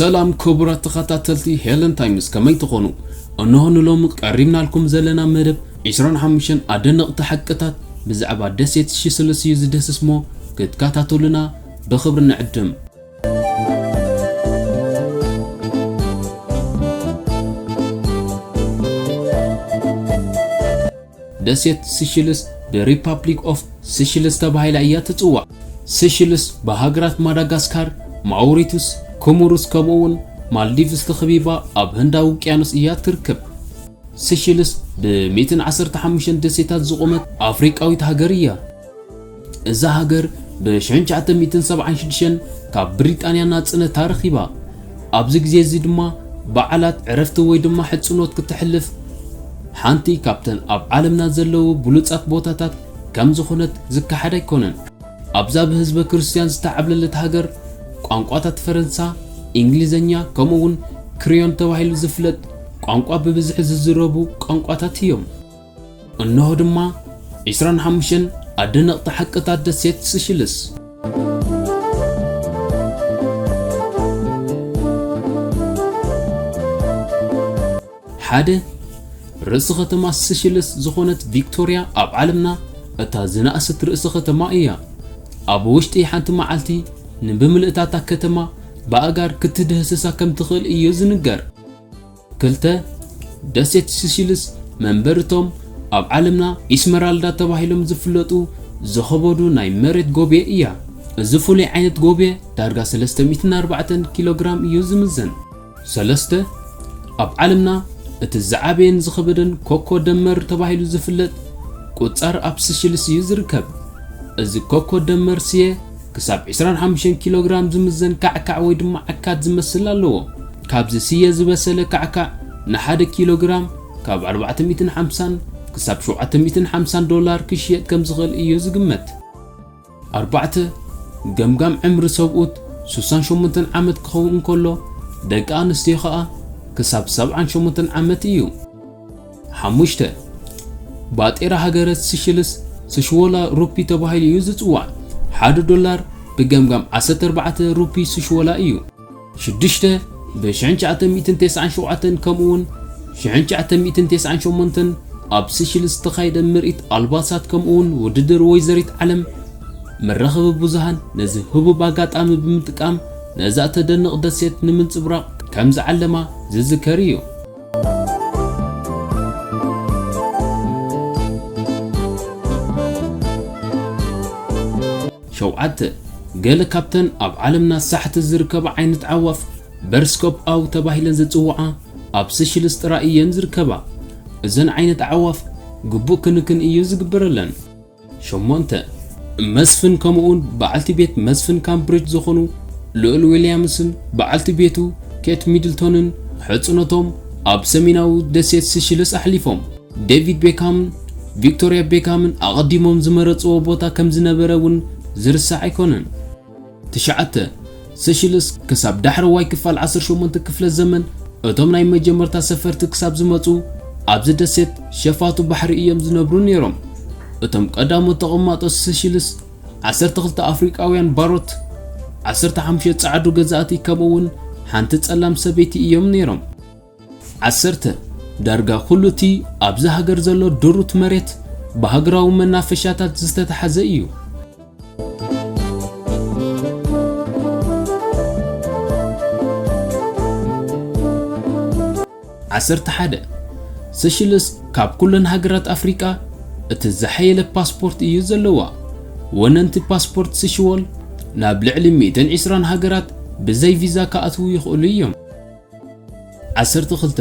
ሰላም ክቡራት ተኸታተልቲ ሄለን ታይምስ ከመይ ትኾኑ? እነሆ ንሎሚ ቀሪብናልኩም ዘለና መደብ 25 ኣደነቕቲ ሓቅታት ብዛዕባ ደሴት ሽስልስ እዩ ዝደስስ እሞ ክትከታተሉና ብኽብሪ ንዕድም! ደሴት ሲሺልስ The Republic of Seychelles ተባሂላ እያ ትጽዋዕ። ሲሺልስ ብሃገራት ማዳጋስካር፣ ማውሪቱስ፣ ኮሞሩስ ከምኡ'ውን ማልዲቭስ ተኸቢባ ኣብ ህንዳዊ ውቅያኖስ እያ እትርከብ። ሲሺልስ ብ115 ደሴታት ዝቖመት ኣፍሪቃዊት ሃገር እያ። እዛ ሃገር ብሽሕን ትሽዓተ ሚእትን ሰብዓን ሽዱሽተን ካብ ብሪጣንያ ናጽነታ ረኺባ። ኣብዚ ግዜ እዚ ድማ በዓላት፣ ዕረፍቲ ወይ ድማ ሕጽኖት ክተሕልፍ ሓንቲ ካብተን ኣብ ዓለምና ዘለዉ ብሉጻት ቦታታት ከም ዝኾነት ዝከሓድ ኣይኮነን። ኣብዛ ብህዝበ ክርስትያን ዝተዓብለለት ሃገር፣ ቋንቋታት ፈረንሳ፣ እንግሊዝኛ ከምኡ'ውን ክረዮል ተባሂሉ ዝፍለጥ ቋንቋ ብብዝሒ ዝዝረቡ ቋንቋታት እዮም። እነሆ ድማ ዕስራን ሓሙሽተን ኣደነቕቲ ሓቅታት ደሴት ስሽልስ። ሓደ፣ ርእሲ ኸተማ ስሽልስ ዝኾነት ቪክቶርያ ኣብ ዓለምና እታ ዝነኣሰት ርእሲ ኸተማ እያ። ኣብ ውሽጢ ሓንቲ መዓልቲ ንብምልእታ እታ ከተማ ብኣእጋር ክትድህስሳ ከም ትኽእል እዩ ዝንገር። ክልተ፣ ደሴት ስሺልስ መንበሪ እቶም ኣብ ዓለምና ኢስመራልዳ ተባሂሎም ዝፍለጡ ዝኸበዱ ናይ መሬት ጎብየ እያ። እዚ ፍሉይ ዓይነት ጎብየ ዳርጋ ሰለስተ ሚእትን ኣርባዕተን ኪሎግራም እዩ ዝምዘን። ሰለስተ፣ ኣብ ዓለምና እቲ ዝዓበየን ዝኸበደን ኮኮ ደመር ተባሂሉ ዝፍለጥ ቁጻር ኣብ ስሺልስ እዩ ዝርከብ። እዚ ኮኮ ደመር ስየ፣ ክሳብ ዕስራን ሓሙሽተን ኪሎግራም ዝምዘን ካዕካዕ ወይ ድማ ዓካት ዝመስል ኣለዎ። ካብዚ ስየ ዝበሰለ ካዕካዕ ንሓደ ኪሎግራም ካብ ኣርባዕተ ሚእትን ሓምሳን ክሳብ ሸውዓተ ሚእትን ሓምሳን ዶላር ክሽየጥ ከም ዝኽእል እዩ ዝግመት። ኣርባዕተ፣ ገምጋም ዕምሪ ሰብኡት ሱሳን ሸሞንተን ዓመት ክኸውን እንከሎ፣ ደቂ ኣንስትዮ ከኣ ክሳብ ሰብዓን ሸሞንተን ዓመት እዩ። ሓሙሽተ፣ ባጤራ ሃገረ ስሽልስ፣ ስሽዎላ ሩፒ ተባሂሉ እዩ ዝጽዋዕ። ሓደ ዶላር ብገምጋም ዓሰርተ ኣርባዕተ ሩፒ ስሽዎላ እዩ። ሽዱሽተ፣ ብ ሽሕን ትሽዓተ ሚእትን ተስዓን ሸውዓተን ከምኡውን ሽሕን ትሽዓተ ሚእትን ተስዓን ሸሞንተን ኣብ ስሽልስ ዝተኻየደ ምርኢት ኣልባሳት ከምኡውን ውድድር ወይዘሪት ዓለም፣ መራኸቢ ብዙሃን ነዚ ህቡብ ኣጋጣሚ ብምጥቃም ነዛ እተደንቕ ደሴት ንምንጽብራቕ ከም ዝዓለማ ዝዝከር እዩ። ሸውዓተ፣ ገለ ካብተን ኣብ ዓለምና ሳሕቲ ዝርከባ ዓይነት ኣዕዋፍ በርስኮፕ ኣው ተባሂለን ዝጽውዓ ኣብ ስሽልስ ጥራይ እየን ዝርከባ። እዘን ዓይነት ኣዕዋፍ ግቡእ ክንክን እዩ ዝግበረለን። ሸሞንተ፣ መስፍን ከምኡውን በዓልቲ ቤት መስፍን ካምብሪጅ ዝኹኑ ልኡል ዊልያምስን በዓልቲ ቤቱ ኬት ሚድልቶንን ሕጽኖቶም ኣብ ሰሜናዊ ደሴት ሲሺልስ ኣሕሊፎም። ዴቪድ ቤካምን ቪክቶርያ ቤካምን ኣቐዲሞም ዝመረጽዎ ቦታ ከም ዝነበረ እውን ዝርሳዕ ኣይኮነን። ትሽዓተ፣ ሰሺልስ ክሳብ ዳሕረዋይ ክፋል ዓሰርተ ሸሞንተ ክፍለ ዘመን እቶም ናይ መጀመርታ ሰፈርቲ ክሳብ ዝመጹ ኣብዚ ደሴት ሸፋቱ ባሕሪ እዮም ዝነብሩ ነይሮም። እቶም ቀዳሞት ተቐማጦ ሰሺልስ ዓሰርተ ክልተ ኣፍሪቃውያን ባሮት፣ ዓሰርተ ሓሙሽተ ጸዓዱ ገዛእቲ ከምኡ'ውን ሓንቲ ጸላም ሰበይቲ እዮም ነይሮም። ዓሰርተ፣ ዳርጋ ኩሉ እቲ ኣብዛ ሃገር ዘሎ ድሩት መሬት ብሃገራዊ መናፈሻታት ዝተታሕዘ እዩ። ዓሰርተ ሓደ፣ ሰሽልስ ካብ ኩለን ሃገራት ኣፍሪቃ እቲ ዝሓየለ ፓስፖርት እዩ ዘለዋ። ወነንቲ ፓስፖርት ስሽወል ናብ ልዕሊ ሚእትን ዒስራን ሃገራት ብዘይ ቪዛ ክኣትዉ ይኽእሉ እዮም። ዓሰርተ ክልተ፣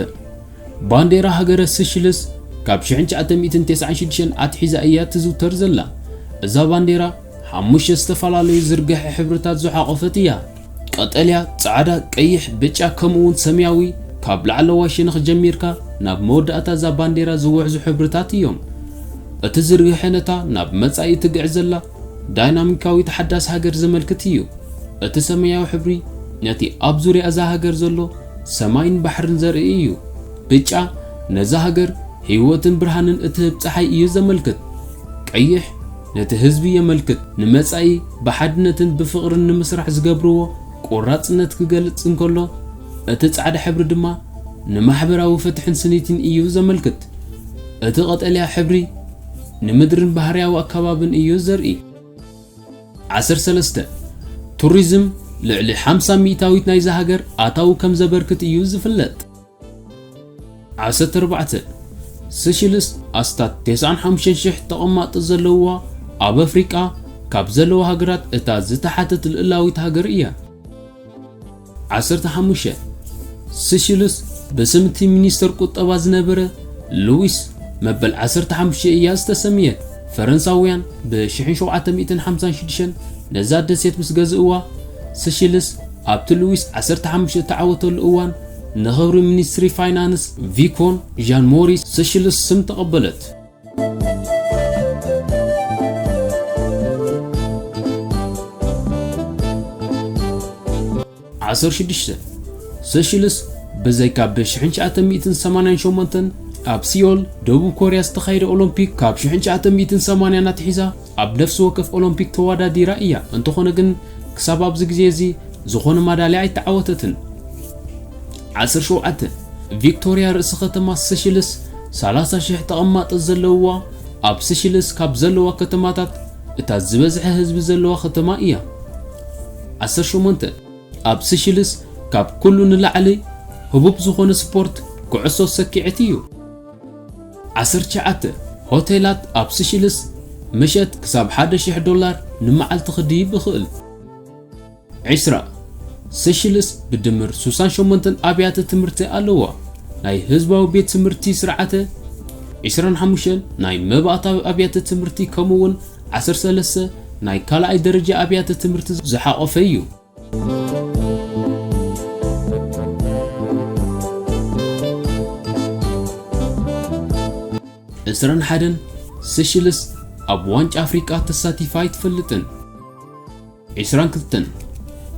ባንዴራ ሃገረ ስሽልስ ካብ ሽሕን ትሽዓተ ሚእትን ተስዓን ሽዱሽተን ኣትሒዛ እያ ትዝውተር ዘላ። እዛ ባንዴራ ሓሙሽተ ዝተፈላለዩ ዝርገሐ ሕብርታት ዝሓቖፈት እያ። ቀጠልያ፣ ጻዕዳ፣ ቀይሕ፣ ብጫ ከምኡ'ውን ሰማያዊ ካብ ላዕለዋይ ሸነኽ ጀሚርካ ናብ መወዳእታ እዛ ባንዴራ ዝውሕዙ ሕብርታት እዮም። እቲ ዝርገሐ ነታ ናብ መጻኢ እትግዕዝ ዘላ ዳይናሚካዊት ሓዳስ ሃገር ዘመልክት እዩ። እቲ ሰመያዊ ሕብሪ ነቲ ኣብ ዙርያ እዛ ሃገር ዘሎ ሰማይን ባሕርን ዘርኢ እዩ። ብጫ ነዛ ሃገር ህይወትን ብርሃንን እትህብ ጸሓይ እዩ ዘመልክት። ቀይሕ ነቲ ህዝቢ የመልክት፣ ንመጻኢ ብሓድነትን ብፍቕርን ንምስራሕ ዝገብርዎ ቆራጽነት ክገልጽ እንከሎ፣ እቲ ጻዕዳ ሕብሪ ድማ ንማሕበራዊ ፍትሕን ስኒትን እዩ ዘመልክት። እቲ ቀጠልያ ሕብሪ፣ ንምድርን ባህርያዊ ኣከባብን እዩ ዘርኢ። ዓሰር ሰለስተ፣ ቱሪዝም ልዕሊ ሓምሳ ሚእታዊት ናይዛ ሃገር ኣታዊ ከም ዘበርክት እዩ ዝፍለጥ። ዓሰተ ኣርባዕተ፣ ስሽልስ ኣስታት ተስዓን ሓሙሽተን ሽሕ ተቐማጦ ዘለዉዋ ኣብ ኣፍሪቃ ካብ ዘለዋ ሃገራት እታ ዝተሓተት ልእላዊት ሃገር እያ። ዓሰርተ ሓሙሽተ፣ ስሽልስ ብስም እቲ ሚኒስተር ቁጠባ ዝነበረ ሉዊስ መበል ዓሰርተ ሓሙሽተ እያ ዝተሰምየት። ፈረንሳውያን ብሽሕን ሸውዓተ ሚእትን ሓምሳን ሽዱሽተን ነዛ ደሴት ምስ ገዝእዋ፣ ስሽልስ ኣብቲ ሉዊስ ዓሰርተ ሓሙሽተ እተዓወተሉ እዋን ንኽብሪ ሚኒስትሪ ፋይናንስ ቪኮን ዣን ሞሪስ ስሽልስ ስም ተቐበለት። ዓሰርተ ሽዱሽተ ሰሽልስ ብዘይካ ብ 1988 ኣብ ሲዮል ደቡብ ኮርያ ዝተኻየደ ኦሎምፒክ ካብ 1980 ኣትሒዛ ኣብ ነፍሲ ወከፍ ኦሎምፒክ ተወዳዲራ እያ፣ እንተኾነ ግን ክሳብ ኣብዚ ግዜ እዚ ዝኾነ ማዳልያ ኣይተዓወተትን። ዓሰርተ ሸውዓተ፣ ቪክቶርያ ርእሲ ከተማ ስሽልስ ሰላሳ ሽሕ ተቐማጢ ዘለውዋ ኣብ ስሽልስ ካብ ዘለዋ ከተማታት እታ ዝበዝሐ ህዝቢ ዘለዋ ከተማ እያ። ዓሰርተ ሸሞንተ፣ ኣብ ስሽልስ ካብ ኩሉ ንላዕሊ ህቡብ ዝኾነ ስፖርት ኩዕሶ ሰኪዔት እዩ። ዓሰርተ ትሽዓተ፣ ሆቴላት ኣብ ስሽልስ ምሸት ክሳብ ሓደ ሽሕ ዶላር ንመዓልቲ ክድይብ ይኽእል። ዕስራ፣ ስሽልስ ብድምር ሱሳን ሸሞንተን ኣብያተ ትምህርቲ ኣለዋ፣ ናይ ህዝባዊ ቤት ትምህርቲ ስርዓተ፣ ዕስራን ሓሙሽተን ናይ መባእታዊ ኣብያተ ትምህርቲ ከምኡ'ውን ዓሰርተ ሰለስተ ናይ ካልኣይ ደረጃ ኣብያተ ትምህርቲ ዝሓቖፈ እዩ። ዕስራን ሓደን ሴሽልስ ኣብ ዋንጫ ኣፍሪቃ ተሳቲፋ ኣይትፈልጥን። ዕስራን ክልተን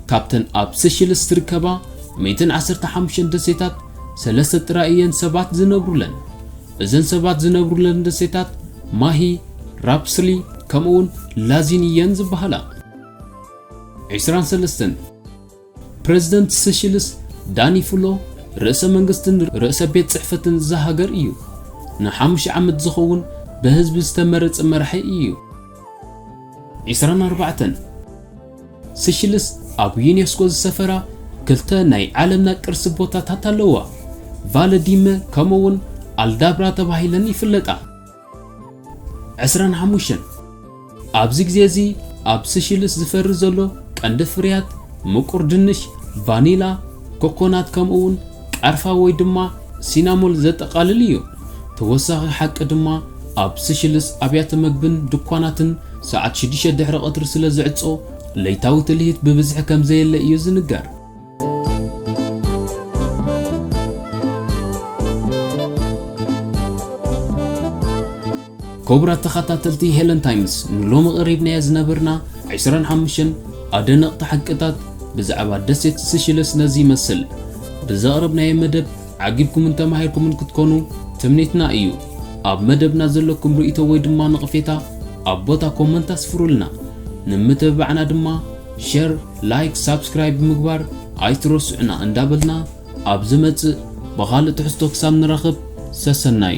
ካብተን ኣብ ሴሽልስ ዝርከባ ሚእትን ዓሰርተ ሓሙሽተን ደሴታት ሰለስተ ጥራይ እየን ሰባት ዝነብሩለን። እዘን ሰባት ዝነብሩለን ደሴታት ማሂ፣ ራፕስሊ ከምኡውን ላዚን እየን ዝበሃላ። ዕስራን ሰለስተን፣ ፕረዚደንት ሰሽልስ ዳኒ ፍሎ ርእሰ መንግስትን ርእሰ ቤት ጽሕፈትን እዛ ሃገር እዩ። ንሓሙሽተ ዓመት ዝኸውን ብህዝቢ ዝተመረጸ መራሒ እዩ። ዕስራን ኣርባዕተን፣ ስሽልስ ኣብ ዩኔስኮ ዝሰፈራ ክልተ ናይ ዓለምና ቅርሲ ቦታታት ኣለዋ፣ ቫለ ዲመ ከምኡ'ውን ኣልዳብራ ተባሂለን ይፍለጣ። ዕስራን ሓሙሽተን፣ ኣብዚ ግዜ እዚ ኣብ ስሽልስ ዝፈሪ ዘሎ ቀንዲ ፍርያት ምቁር ድንሽ፣ ቫኒላ፣ ኮኮናት ከምኡውን ቃርፋ ወይ ድማ ሲናሞል ዘጠቓልል እዩ። ተወሳኺ ሓቂ ድማ ኣብ ስሽልስ ኣብያተ መግብን ድኳናትን ሰዓት ሽዱሽተ ድሕሪ ቐትሪ ስለ ዝዕጾ ለይታዊ ትልሂት ብብዝሒ ከም ዘየለ እዩ ዝንገር። ክቡራት ተኻታተልቲ ሄለን ታይምስ ንሎሚ ቀሪብናዮ ዝነበርና ዕስራን ሓሙሽተን ኣደነቕቲ ሓቅታት ብዛዕባ ደሴት ስሽለስ ነዚ ይመስል። ብዘቕረብናዮ መደብ ዓጊብኩምን ተማሂርኩምን ክትኮኑ ትምኒትና እዩ። ኣብ መደብና ዘለኩም ርእይቶ ወይ ድማ ነቕፌታ ኣብ ቦታ ኮመንት ኣስፍሩልና። ንምትብባዕና ድማ ሸር ላይክ ሳብስክራይብ ምግባር ኣይትረስዑና እንዳበልና ኣብ ዝመጽእ ብኻልእ ትሕዝቶ ክሳብ ንራኽብ ሰሰናዩ።